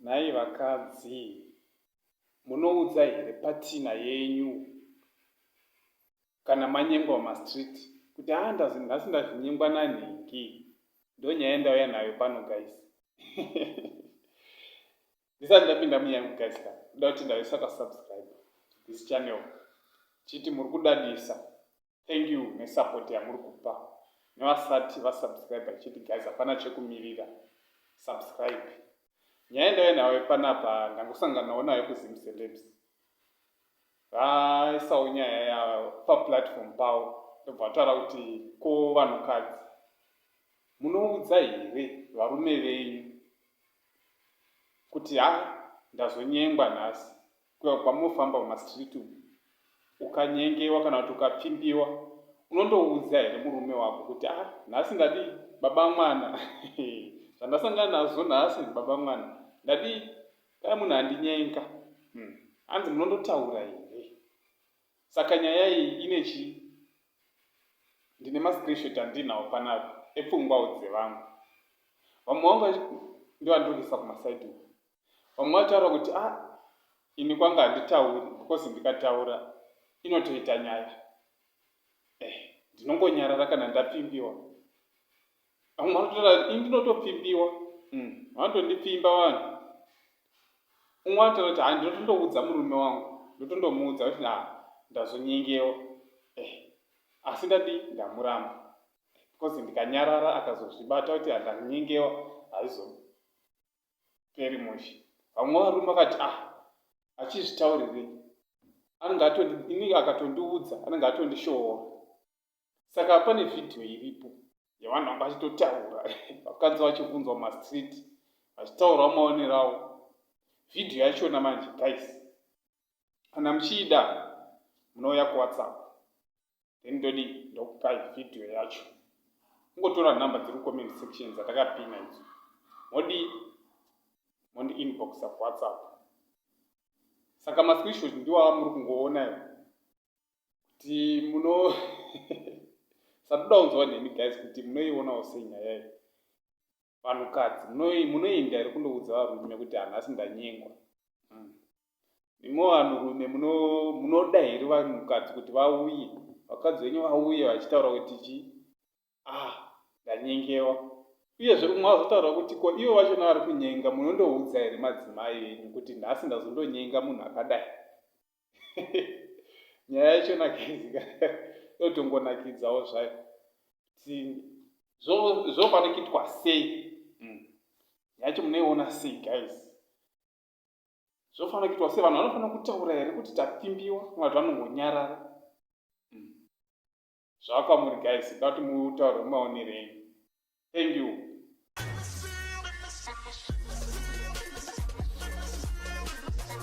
nhai vakadzi munoudza here patina yenyu kana manyengwa mumastreet kuti haa ndazi nhasi ndazvinyengwa nanhingi ndonyaya ndauya nayo pano guys ndisati ndapinda muyangu guys ka ndoda kuti ndaisaka subscribe this channel chiti muri kudadisa thank you nesupport yamuri kupa nevasati vasubscribe chiti guys hapana chekumirira subscribe nyaya ndave nayo panapa ndangosanganawo nayo kuzim celebs vaisawo nyaya ya paplatform pawo ndobva vataura kuti ko vanhukadzi munoudza here varume venyu kuti ha ndazonyengwa nhasi kuya kwamofamba pamastreet umu ukanyengewa kana kuti ukapfimbiwa unondoudza here murume wako kuti a ah, nhasi ndadii baba mwana zvandasangana nazvo nhasi baba mwana ndadii dai munhu andinyenga hmm. hanzi munondotaura here Saka nyaya iyi ine chii? Ndine mascreenshot andinawo panapa epfungwawo dzevamwe. Vamwe vangu ndovandiri kuisa kumaside uku. Vamwe vataura kuti ah ini kwanga handitauri because ndikataura inotoita nyaya. Eh, ndinongonyarara kana ndapfimbiwa. vamwe vanototaura kuti ini ndinotopfimbiwa mm. vanotondipfimba vanhu umwe anotaura kuti ha ndinotondoudza murume wangu ndotondomuudza kuti na ndazonyengewa eh, asi ndadii ndamuramba because ndikanyarara akazozvibata kuti handanyengewa haizoperi mushe vamwe varume vakati ah achizvitaurirei anenge atondinenge akatondiudza anenge atondishoora saka pane vhidhiyo iripo yevanhu vanga vachitotaura vakadzi vachivhunzwa mastreet vachitaurawo maonero avo vhidhiyo yachona manje guys kana muchiida munouya kuwhatsapp then ndodi ndokupai vhidhiyo yacho kungotora nhamba dziri comment section dzatakapina idzo modi mondi inbox akuwhatsapp saka mascreenshot ndiwava muri kungoona kuti muno satoda kunzwa neni guys kuti munoionawo sei nyaya iyi vanhukadzi munoinda here kundoudza varume kuti hanhasi ndanyengwa hmm. imwe vanhurume munoda here vanhukadzi kuti vauye vakadzi venyu vauye vachitaura kuti chii ah ndanyengewa uyezve umwe azotaura kuti ko ivo vacho navari kunyenga munondoudza here madzimai venyu kuti nhasi ndazondonyenga munhu akadai nyaya yacho nakizika yotongonakidzawo zvayo ti zvofanikitwa sei hmm. yacho munoiona sei guys zvofanira kuitwa sevanhu vanofanira kutaura here kuti tapfimbiwa vati vanongonyarara hmm. Zvakamuri guys but mutauro mumaonerei. Thank you.